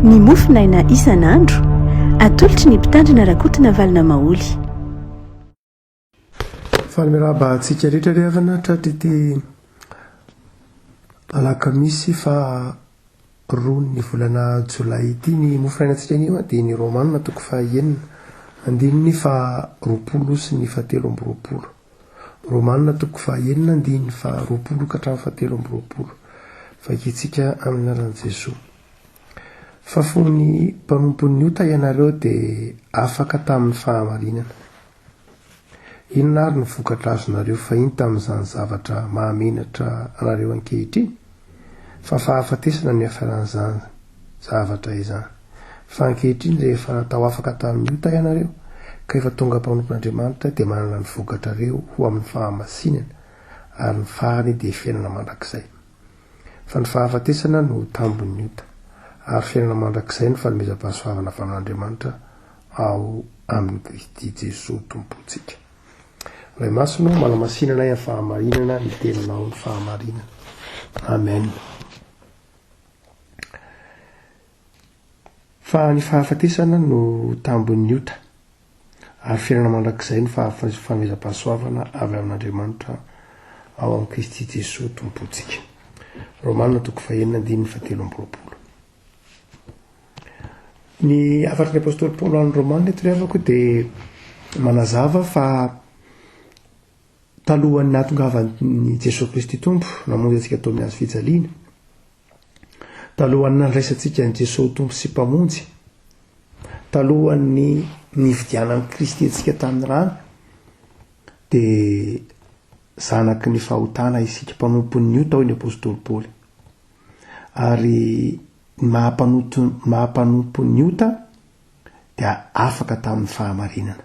Ny mofo naina isan'andro. Atolotry ny mpitandrina Rakotina Valona Maholy. Fanome raba antsika rehetra ry havana tratry ity alakamisy faha roa ny volana jolay ity. Ny mofo naina antsika anio dia ny Romanina toko faha enina andininy faha roapolo sy ny faha telo amby roapolo. Romana toko fahaenina andininy faharoapolo ka hatramin'ny fahatelo amby roapolo. Vakintsika amin'ny anaran'i Jesoa. Fa fony mpanompon'ny ota ianareo dia afaka tamin'ny fahamarinana. Inona ary no vokatra azonareo fahiny tamin'izany zavatra mahamenatra anareo ankehitriny? Fa fahafatesana ny afaran'izany zavatra izany. Fa ankehitriny rehefa natao afaka tamin'ny ota ianareo, ka efa tonga mpanompon'Andriamanitra, dia manana ny vokatrareo ho amin'ny fahamasinana, ary ny farany dia fiainana mandrakizay. Fa ny fahafatesana no tambin'ny ota, ary fiainana mandrakizay no fanomezam-pahasoavana avy amin'Andriamanitra ao amin'i Kristy Jesoa Tompontsika. Ray Masina ô, manamasinana ahy amin'ny fahamarinana ny Teninao, ny fahamarinana. Amen. Fa ny fahafatesana no tambin'ny ota, ary fiainana mandrakizay ny fahafahamezam-pahasoavana avy amin'Andriamanitra ao amin'i Kristy Jesoa Tompontsika. Romana toko fahenina andininy fahatelo amby roapolo. Ny hafatry ny apostoly Paoly ho an'ny Romanina eto ry havako dia manazava fa talohan'ny nahatongavan'i Jesoa Kristy Tompo namonjy antsika tao amin'ny hazo fijaliana, talohan'ny nandraisantsika an'i Jesoa Tompo sy Mpamonjy, talohan'ny nividianan'i Kristy antsika tamin'ny rano, dia zanaky ny fahotana isika mpanompon'ny ota hoy ny apostoly Paoly. ary ny maha mpanoto maha mpanompo ny ota dia afaka tamin'ny fahamarinana.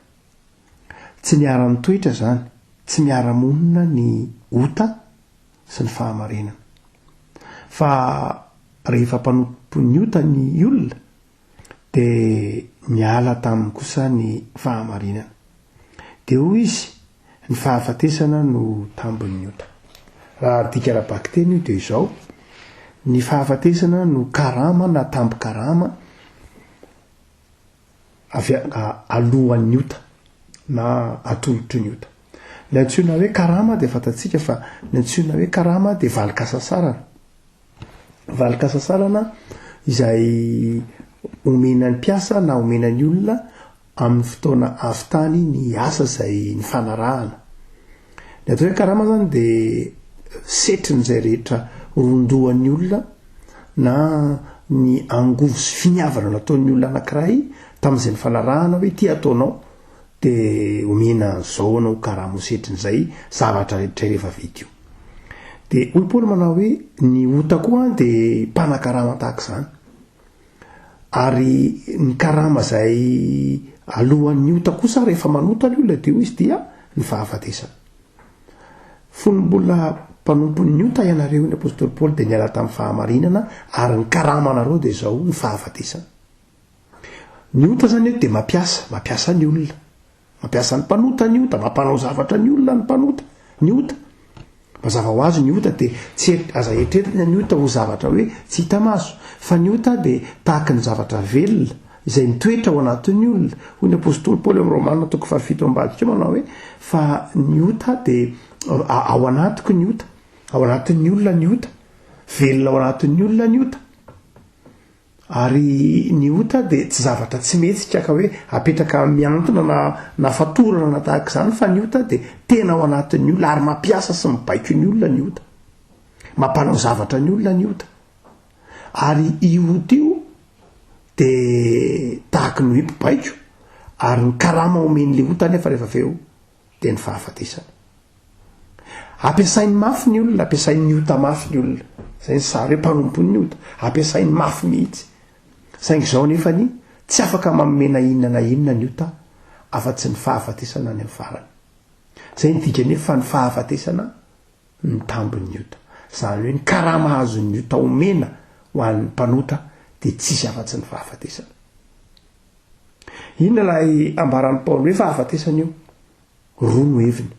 Tsy niara-nitoetra izany, tsy miara-monina ny ota sy ny fahamarinana. Fa rehefa mpanompo ny ota ny olona dia niala taminy kosa ny fahamarinana. Dia hoy izy, Ny fahafatesana no tambin'ny ota. Raha adika ara-bakiteny io dia izao, Ny fahafatesana no karama na tambin-karama avy alohan'ny ota na atolotry ny ota. Ilay antsoina hoe karama dia fantatsika fa ny antsoina hoe karama dia valin-kasasarana. Valin-kasasalana izay omena ny mpiasa na omena ny olona amin'ny fotoana avy tany ny asa izay nifanarahana. Ny atao hoe karama izany dia setrin'izay rehetra rondohan'ny olona na ny angovo sy finiavana nataon'ny olona anankiray tamin'izay nifanarahana hoe ity ataonao de omena an'zao anao karama ho setrin'zay zavatra rehetra rehefa vita io. De hoy Paoly manao hoe ny ota koa an de mpanakarama tahak'zany. Ary ny karama zay alohan'ny ota kosa rehefa manota ny olona de hoy izy dia ny fahafatesana. Fony mbola mpanompon'ny ota ianareo hoy ny apostoly Paoly de niala tamin'ny fahamarinana ary ny karama anareo de zao ny fahafatesana. Ny ota zany eto dia mampiasa, mampiasa ny olona. Mampiasa ny mpanota ny ota, mampanao zavatra ny olona ny mpanota ny ota. Mazava ho azy ny ota dia tsy aza eritreretina ny ota ho zavatra hoe tsy hita maso, fa ny ota dia tahaka ny zavatra velona izay mitoetra ao anatin'ny olona. Hoy ny apostoly Paoly amin'ny Romana toko fahafito ambadika manao hoe fa ny ota dia ao anatiko ny ota, ao anatin'ny olona ny ota, velona ao anatin'ny olona ny ota. Ary ny ota dia tsy zavatra tsy mihetsika ka hoe apetraka mihantona na na fatorana na tahaka izany fa ny ota dia tena ao anatin'ny olona ary mampiasa sy mibaiko ny olona ny ota. Mampanao zavatra ny olona ny ota. Ary io ota io dia tahaka ny hoe mpibaiko ary ny karama omen'ilay ota anefa rehefa avy eo dia ny fahafatesana. Ampiasainy mafy ny olona, ampiasain'ny ota mafy ny olona. Izay ny sary hoe mpanompon'ny ota, ampiasainy mafy mihitsy. Saingy izao nefa ny tsy afaka mamena inona na inona ny ota afa-tsy ny fahafatesana any amin'ny farany. Izay ny dikany hoe fa ny fahafatesana ny tambin'ny ota. Izany hoe ny karama azon'ny ota omena ho an'ny mpanota dia tsisy afa-tsy ny fahafatesana. Inona ilay ambaran'i Paoly hoe fahafatesana io? Roa no heviny.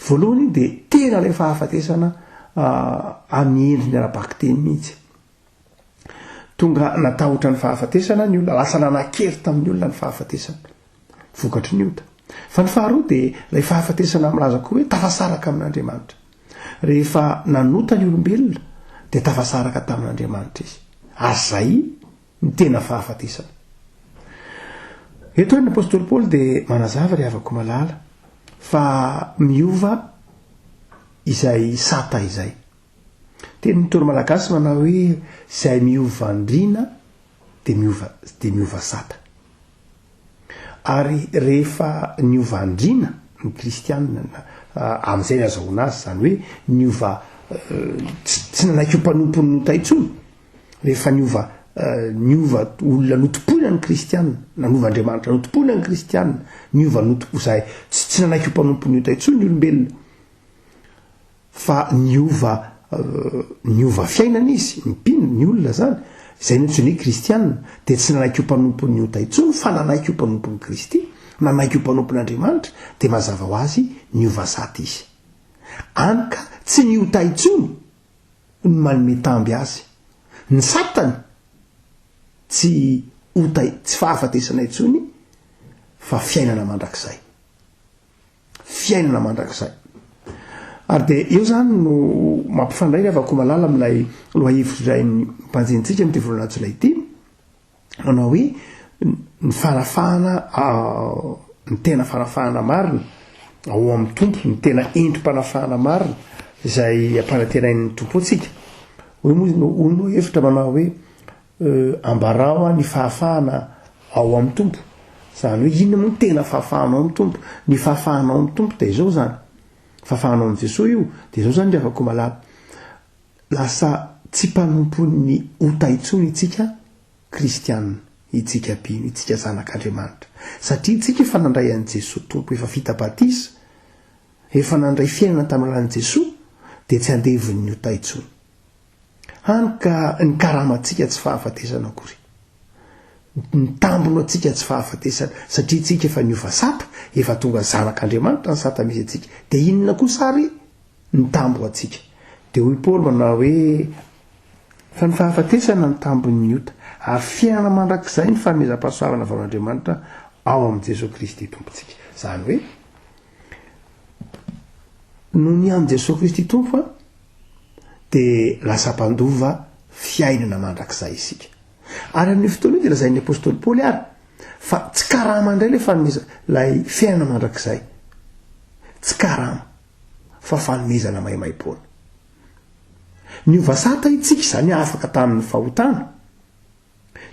Voalohany dia tena ilay fahafatesana amin'ny endriny ara-bakiteny mihitsy. Tonga natahotra ny fahafatesana ny olona, lasa nanan-kery tamin'ny olona ny fahafatesana, vokatry ny ota. Fa ny faharoa dia ilay fahafatesana milaza koa hoe tafasaraka amin'Andriamanitra. Rehefa nanota ny olombelona dia tafasaraka tamin'Andriamanitra izy. Ary izay? ny tena fahafatesana. Eto ary ny apostoly Paoly dia manazava ry havako malala fa miova izay sata izay. Teny ny toro malagasy manao hoe izay miova andriana dia miova dia miova sata. Ary rehefa niova andriana ny kristianina amin'izay ny azahoana azy izany hoe niova tsy nanaiky ho mpanompony nota intsony Rehefa niova niova olona notompoina ny kristianina, nanova Andriamanitra notompoina ny kristianina, niova notompo izay tsy tsy nanaiky ho mpanompon'ny ota intsony ny olombelona fa niova niova fiainana izy, mpino ny olona zany, izay no antsoina hoe kristianina, dia tsy nanaiky ho mpanompon'ny ota intsony fa nanaiky ho mpanompon'i Kristy, nanaiky ho mpanompon'Andriamanitra, dia mazava ho azy niova sata izy. Any ka tsy ny ota intsony ho ny manome tamby azy. Ny satany tsy ota tsy fahafatesana intsony fa fiainana mandrakizay. Fiainana mandrakizay. Ary dia eo zany no mampifandray ny havakomalala amin'ilay lohahevitr'iray ny mpanjintsika amin'ity volana jolay ity. manao hoe ny fanafahana ny tena fanafahana marina ao amin'ny Tompo, ny tena endri-panafahana marina izay ampananterain'ny Tompo antsika. Hoy moa izy, hoy moa hevitra manao hoe ambarao ny fahafahana ao amin'ny Tompo. Izany hoe inona moa ny tena fahafahanao amin'ny Tompo? Ny fahafahanao amin'ny Tompo dia izao izany. Fahafahanao amin'i Jesoa io, dia izao izany ry havako malala. Lasa tsy mpanompon'ny ota intsony itsika kristiana, itsika mpino, itsika zanak'Andriamanitra. Satria itsika efa nandray an'i Jesoa Tompo, efa vita batisa, efa nandray fiainana tamin'ny alalan'i Jesoa, dia tsy andevon'ny ota intsony. Hany ka nikarama antsika tsy fahafatesana akory. Nitambona antsika tsy fahafatesana, satria itsika efa niova sata, efa tonga zanak'Andriamanitra ny sata misy antsika. Dia inona kosa ary? Ny tambo ho antsika. Dia hoy Paoly manao hoe, Fa ny fahafatesana no tambin'ny ota, ary fiainana mandrakizay ny fanomezam-pahasoavana avy amin'Andriamanitra ao amin'i Jesoa Kristy Tompontsika. Izany hoe, noho ny amin'i Jesoa Kristy Tompo, dia lasa mpandova fiainana mandrakizay isika. Ary amin'io fotoana io dia lazain'ny apostoly Paoly ary fa tsy karama indray ilay fanomezana ilay fiainana mandrakizay. Tsy karama. fa fanomezana maimaimpoana. Niova sata itsika izany afaka tamin'ny fahotana.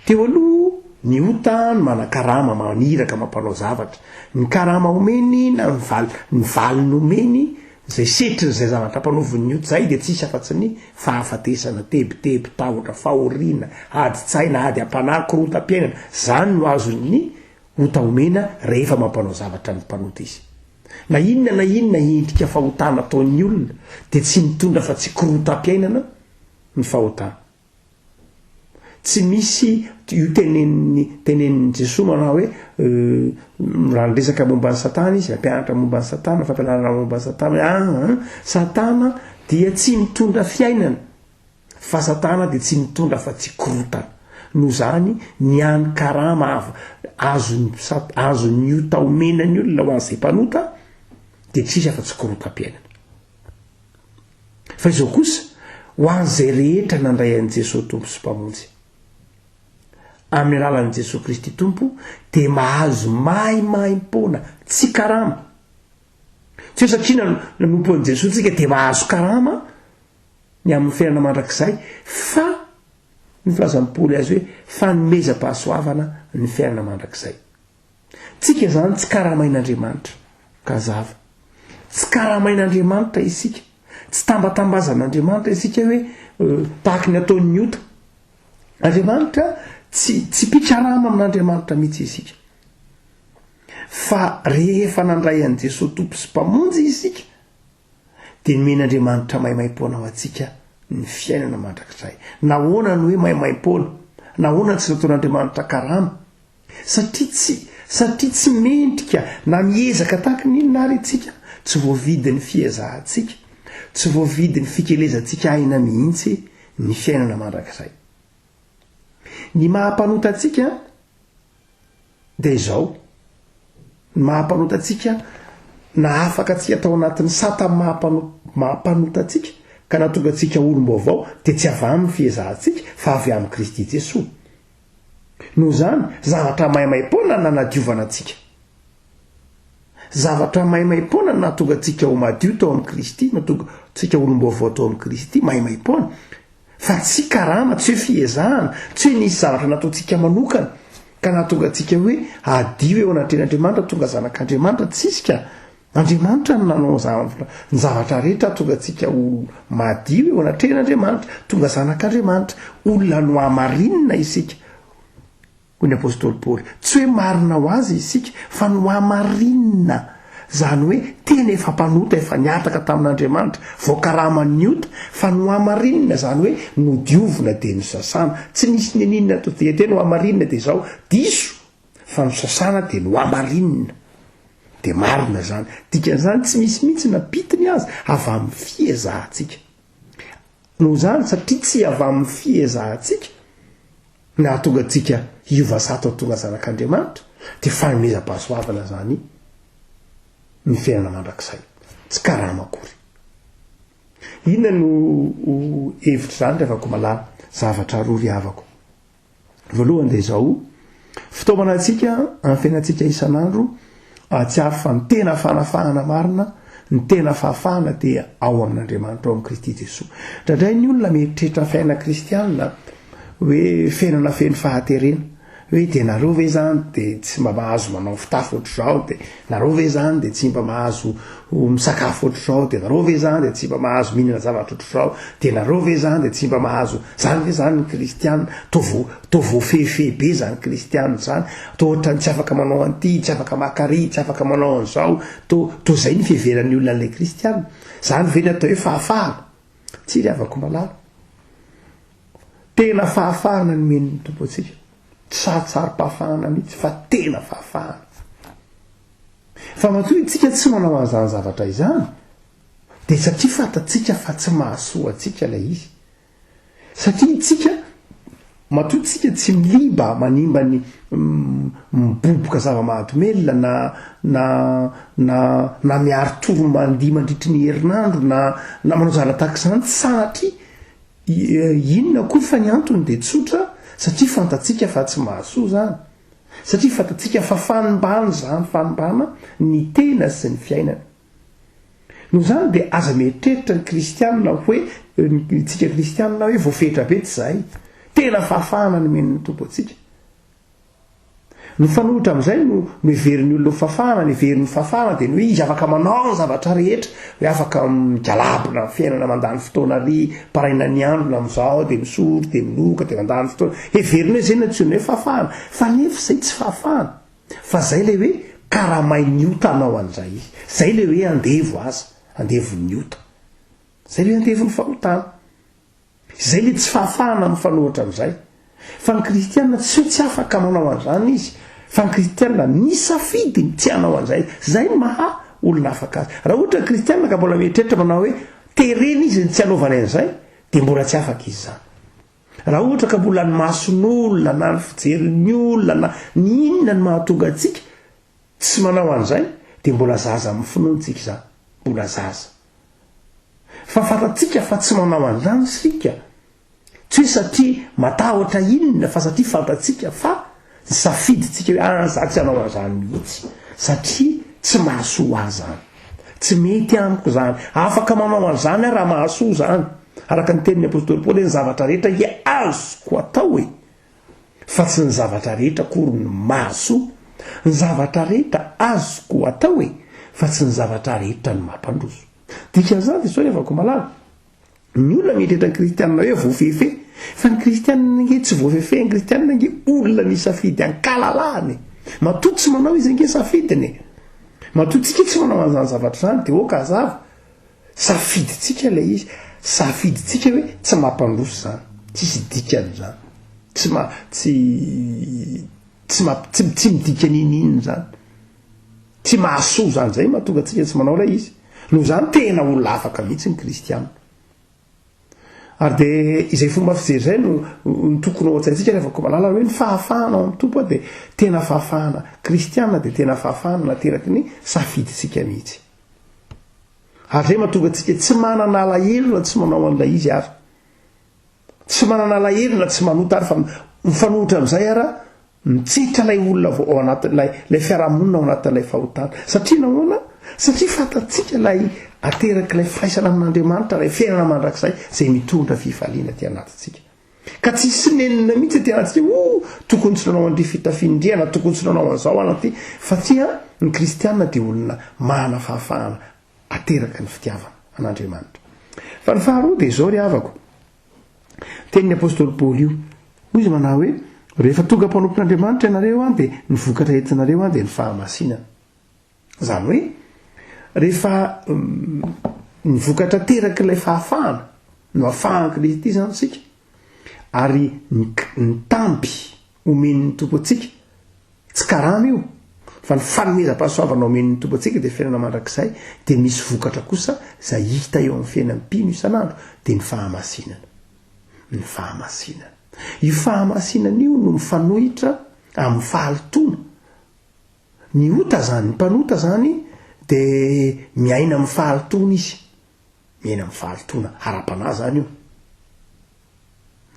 Teo aloha, ny ota no manan-karama maniraka mampanao zavatra. Ny karama omeny na ny val, ny valiny omeny izay setrin'izay zavatra ampanaovin'ny ota izay dia tsisy afa-tsy ny fahafatesana, tebiteby, tahotra, fahoriana, adin-tsaina, ady am-panahy, korontam-piainana. Izany no azon'ny ota omena rehefa mampanao zavatra ny mpanota izy. Na inona na inona endrika fahotana ataon'ny olona dia tsy mitondra afa tsy korotam-piainana ny fahotana. Tsy misy io tenenin'ny tenenin'i Jesoa manao hoe raha niresaka momba an'i Satana izy, nampianatra momba an'i Satana, fampianarana momba an'i Satana hoe ah, Satana dia tsy mitondra fiainana Fa satana dia tsy mitondra afa tsy korotana. Noho izany, ny hany karama avo azon'ny mpisat azon'ny ota omena ny olona ho an'izay mpanota dia tsy misy afa tsy korotam-piainana. Fa izao kosa, ho an'izay rehetra nandray an'i Jesoa Tompo sy Mpamonjy, amin'ny alalan'i Jesoa Kristy Tompo, dia mahazo mahimaim-poana tsy karama, Tsy hoe satria nan- nanompo an'i Jesoa tsika dia mahazo karama ny amin'ny fiainana mandrakizay fa ny filazan'i Paoly azy hoe fanomezam-pahasoavana ny fiainana mandrakizay. Tsika izany tsy karamain'Andriamanitra. Ka zava. Tsy karamain'Andriamanitra isika. Tsy tambatambazan'Andriamanitra isika hoe euh, tahaky ny ataon'ny ota. Andriamanitra tsy tsy mpikarama amin'Andriamanitra mihitsy isika. Fa rehefa nandray an'i Jesoa Tompo sy Mpamonjy isika, dia nomen' Andriamanitra maimaim-poana ho antsika ny fiainana mandrakizay. Nahoana no hoe maimaim-poana? Nahoana no tsy nataon' Andriamanitra karama? Satria tsy satria tsy mendrika na miezaka tahaka ny inona àry isika, tsy voavidy ny fiezahantsika, tsy voavidy ny fikelezantsika aina mihitsy ny fiainana mandrakizay. Ny maha-mpanota antsika, dia izao, ny maha-mpanota antsika na afaka antsika tao anatin'ny sata maha-mpanota antsika ka nahatonga antsika olom-baovao dia tsy avy amin'ny fiezahantsika fa avy amin'i Kristy Jesoa. Noho izany, zavatra maimaim-poana nanadiovana antsika. Zavatra maimaim-poana no nahatonga antsika ho madio tao amin'i Kristy, nahatonga antsika ho olom-baovao tao amin'i Kristy, maimaim-poana, fa tsy karama, tsy hoe fiezahana, tsy hoe nisy zavatra nataontsika manokana ka nahatonga antsika hoe hadio eo anatrehan'Andriamanitra, tonga zanak'Andriamanitra, tsisy ka! Andriamanitra no nanao zavatra, ny zavatra rehetra hahatonga antsika ho madio eo anatrehan'Andriamanitra, tonga zanak'Andriamanitra, olona nohamarinina isika. Hoy ny apostoly Paoly, tsy hoe marina ho azy isika, fa nohamarinina, izany hoe tena efa mpanota efa nihataka tamin'Andriamanitra, voakaraman'ny ota, fa nohamarinina, izany hoe nodiovina dia nosasana, tsy nisy niniana ato dia tena hohamarinina dia izao, diso, fa nosasana dia nohamarinina, dia marina izany, dikan'izany tsy misy mihitsy na pitiny aza avy amin'ny fiezahantsika, noho izany satria tsy avy amin'ny fiezahantsika, Ny nahatonga antsika hiova zato ho tonga zanak'Andriamanitra dia fanomezam-pahasoavana izany ny fiainana mandrakizay. Tsy karama akory. Inona no ho hevitr'izany ry havako malala? Zavatra roa ry havako. Voalohany dia izao, fitaomana antsika amin'ny fiainantsika isan'andro Hahatsiaro fa ny tena fanafahana marina, ny tena fahafahana dia ao amin'Andriamanitra ao amin'i Kristy Jesoa. Indraindray ny olona mieritreritra fiainana kristiana hoe fiainana feno fahaterena, hoe dia nareo ve izany dia tsy mba mahazo manao fitafy ohatr'izao, dia nareo ve izany dia tsy mba mahazo misakafo ohatr'izao, dia nareo ve izany dia tsy mba mahazo mihinana zavatra ohatr'izao, dia nareo ve izany dia tsy mba mahazo, izany ve izany ny kristiana, toa Toa voafehifehy be izany kristiana izany, toa ohatran'ny tsy afaka manao an'ity, tsy afaka maka àry, tsy afaka manao an'izao, toa, toa izay ny fiheveran'ny olona an'ilay kristiana. Izany ve ny atao hoe fahafahana? Tsia ry havako malala. Tena fahafahana nomen'ny Tompo antsika. Tsy sarotsarom-pahafahana mihitsy fa tena fahafahana. Fa matoa isika tsy manao an'izany zavatra izany, dia satria fantatsika fa tsy mahasoa antsika ilay izy. Satria tsika, matoa tsika tsy miba manimba ny miboboka zava-mahadomelina na na na na miaro tory mandihy mandritry ny herinandro na na manao zavatra tahaka izany sanatria, inona koa fa ny antony dia tsotra, satria fantatsika fa tsy mahasoa izany. Satria fantatsika fa fanimbana izany, fanimbana ny tena sy ny fiainana. Noho izany dia aza mieritreritra ny kristianina hoe, tsika kristianina hoe voafetra be tsy zahay. Tena fahafahana nomen'ny Tompo antsika. Mifanohitra amin'izay no no heverin'ny olona ho fafahana, ny heverin'ny fafahana dia ny hoe izy afaka manao ny zavatra rehetra, hoe afaka migalabona amin'ny fiainana mandany fotoana ary paraina ny andro na amin'izao dia misolo dia minoka dia mandany fotoana. Heveriny hoe izay no antsoina hoe fahafahana. Fa nefa izay tsy fahafahana. Fa zay le hoe karamain'ny ota anao an'zay. Zay le hoe andevo aza, andevon'ny ota. Zay le andevon'ny fahotana. Izay le tsy fahafahana mifanohitra amin'izay. Fa ny kristiana tsy hoe tsy afaka manao an'zany izy, fa ny kristiana nisafidy ny tsy hanao an'zay. Zay ny maha olona afaka azy. Raha ohatra ny kristiana ka mbola mieritreritra manao hoe terena izy ny tsy hanaovany an'zay, de mbola tsy afaka izy zany. Raha ohatra ka mbola ny mason'olona na ny fijerin'ny olona na ny inona no mahatonga antsika tsy manao an'izay dia mbola zaza amin'ny finoantsika izany, mbola zaza. Fa fantatsika fa tsy manao an'izany isika, tsy hoe satria matahotra inona fa satria fantatsika fa Tsy safidintsika hoe aah za tsy hanao an'izany mihitsy satria tsy mahasoa ahy izany. Tsy mety amiko izany. Afaka manao an'izany aho raha mahasoa izany. Araka ny tenin'ny apostoly Paoly hoe ny zavatra rehetra dia azoko atao e! fa tsy ny zavatra rehetra akory no mahasoa. Ny zavatra rehetra azoko atao e! fa tsy ny zavatra rehetra no mampandroso. Dikan'izany dia sao hiavako malala. Ny olona mieritreritra ny kristianina hoe voafehifehy fa ny kristianina ange tsy voafehifehy ny kristianina ange olona ny safidy ankalalahana e matoa tsy manao izy ange safidiny e matoa tsika tsy manao an'izany zavatra izany dia oka azava safidintsika ilay izy safidintsika hoe tsy mampandroso izany tsisy dikan'izany tsy ma tsy tsy ma tsy tsy midika n'inon'inona izany Tsy mahasoa izany izay no mahatonga antsika tsy manao ilay izy. Noho izany tena olona afaka mihitsy ny kristianina. Ary dia izay fomba fijery izay no, no tokony ao an-tsaintsika rehefa koa malala hoe ny fahafahana ao amin'ny Tompo dia tena fahafahana kristianina dia tena fahafahana nateraky ny safidintsika mihitsy. Ary izay mahatonga antsika tsy manana alahelo na tsy manao an'ilay izy ary. Tsy manana alahelo na tsy manota ary fa mifanohitra amin'izay ary Mitsitra ilay olona vao ao anatin'ilay ilay fiarahamonina ao anatin'ilay fahotana. Satria nahoana? Satria fantatsika ilay aterak'ilay firaisana amin'Andriamanitra, ilay fiainana mandrakizay izay mitondra fifaliana aty anatintsika. Ka tsy hisy nenina mihitsy aty anatintsika hoe oh, tokony tsy nanao an'ity fitafiana indry aho na tokony tsy nanao an'izao aho na ty. Satria ny kristiana dia olona manana fahafahana ateraka ny fitiavana an'Andriamanitra. Fa ny faharoa dia izao ry havako, Tenin'ny apostoly Paoly io. Hoy izy manao hoe, Rehefa tonga mpanompon'Andriamanitra ianareo an, dia ny vokatra entinareo an, dia ny fahamasinana. Izany hoe, rehefa ny vokatra terak'ilay fahafahana no afahan'i Kristy izany isika, ary ny, ny tampy omen'ny Tompo antsika, tsy karama io, fa ny fanomezam-pahasoavana omen'ny Tompo antsika dia fiainana mandrakizay, dia misy vokatra kosa izay hita eo amin'ny fiainan'ny mpino isan'andro, dia ny fahamasinana. Ny fahamasinana. Io fahamasinana io no mifanohitra amin'ny fahalotoana. Ny ota izany, ny mpanota izany dia miaina amin'ny fahalotoana izy. miaina amin'ny fahalotoana ara-panahy zany io.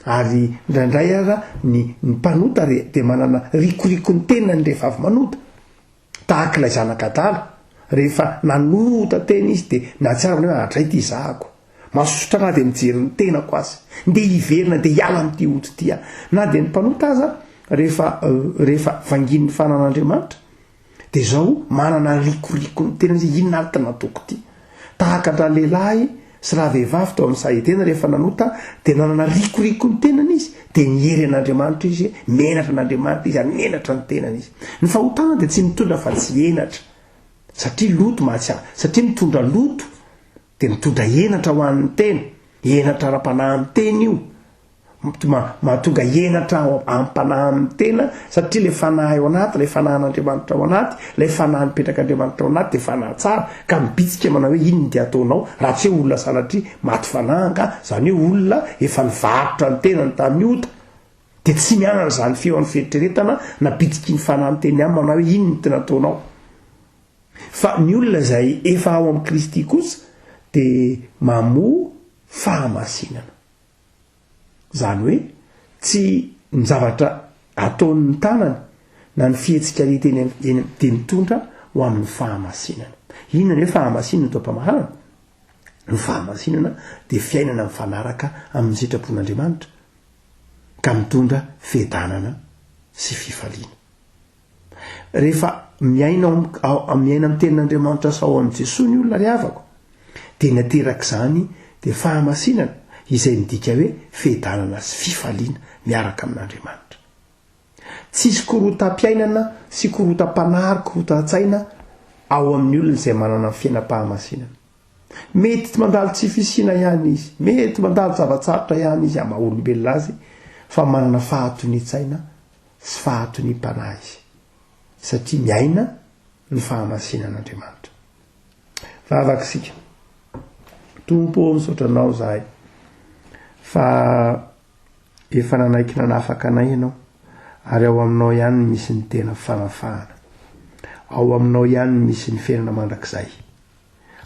Ary ndraindray aza ny ny mpanota re dia manana rikoriko ny tenany rehefa avy manota, tahaka ilay zanak' adala, rehefa nanota tena izy dia nahatsiaro ny hoe adray ity zahako, masosotra na dia mijery ny tenako aza, ndeha hiverina ndeha hiala amin'ity ody ity aho. Na dia ny mpanota aza rehefa rehefa vanginin'ny fananan' Andriamanitra, Dia izao manana rikoriko ny tenany hoe inona ary ty nataoko ty. Tahaka an-dralehilahy sy ravehivavy teo amin'ny saha Edena rehefa nanota dia nanana rikoriko ny tenany izy dia niery an'Andriamanitra izy, menatra an'Andriamanitra izy ary menatra ny tenany izy. Ny fahotana dia tsy mitondra afa tsy henatra satria loto mahatsia, satria mitondra loto dia mitondra henatra ho an'ny tena, henatra ara-panahy miteny io. Mahatonga henatra amim-panahy amin'ny tena, satria ilay fanahy ao anaty, ilay fanahin'Andriamanitra ao anaty, ilay fanahy nipetrak'Andriamanitra ao anaty dia fanahy tsara, ka mibitsika manao hoe inona dia ataonao raha tsy hoe olona sanatria maty fanahy angaha, izany hoe olona efa nivarotra ny tenany tamin'ny ota, dia tsy mianana izany feo amin'ny fieritreretana na bitsiky ny fanahy miteny aminy manao hoe inona tena ataonao. Fa ny olona izay efa ao amin'i Kristy kosa dia mamoa fahamasinana. Izany hoe tsy ny zavatra ataon'ny tanany na ny fihetsikany teny dia mitondra ho amin'ny fahamasinana. Inona ny hoe fahamasinana eto am-pamaharana? Ny fahamasinana dia fiainana mifanaraka amin'ny sitrapon'Andriamanitra ka mitondra fiadanana sy fifaliana. Rehefa miaina ao am- ao- am- miaina amin'ny tenin'Andriamanitra sao amin'i Jesoa ny olona ry havako, dia ny aterak'izany dia fahamasinana izay midika hoe fiadanana sy fifaliana miaraka amin'Andriamanitra. Tsy hisy korotam-piainana sy korotam-panahy ary korotan-tsaina ao amin'ny olona izay manana ny fiainam-pahamasinana. Mety mandalo tsy fisiana ihany izy, mety mandalo zava-tsarotra ihany izy amaha olombelona azy, fa manana fahatonian-tsaina sy fahatoniam-panahy izy, satria miaina ny fahamasinan'Andriamanitra. Vavaka isika. Tompo ô, misaotra Anao izahay fa efa nanaiky nanafaka anay Ianao, ary ao Aminao ihany no misy ny tena fanafahana. Ao Aminao ihany no misy ny fiainana mandrakizay.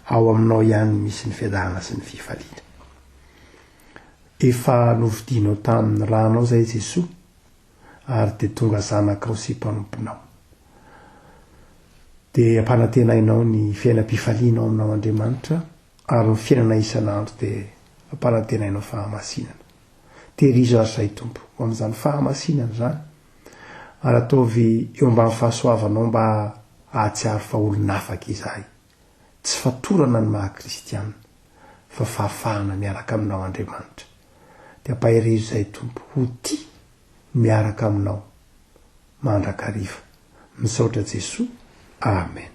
Ao Aminao ihany no misy ny fiadanana sy ny fifaliana. Efa novidianao tamin'ny ranao izay Jesoa, ary dia tonga zanakao sy mpanomponao. Dia ampanantenainao ny fiainam-pifalianao aminao Andriamanitra, ary ny fiainana isan'andro dia ampanantenainao fahamasinana. Tehirizo azy izay Tompo, ho amin'izany fahamasinana izany, ary ataovy eo ambany fahasoavanao mba hahatsiaro fa olon'afaka izahay. Tsy fatorana ny maha kristiana, fa fahafahana miaraka aminao Andriamanitra. Dia ampaherezo izay Tompo, ho tia miaraka aminao mandrakariva. Misaotra Jesoa. Amen.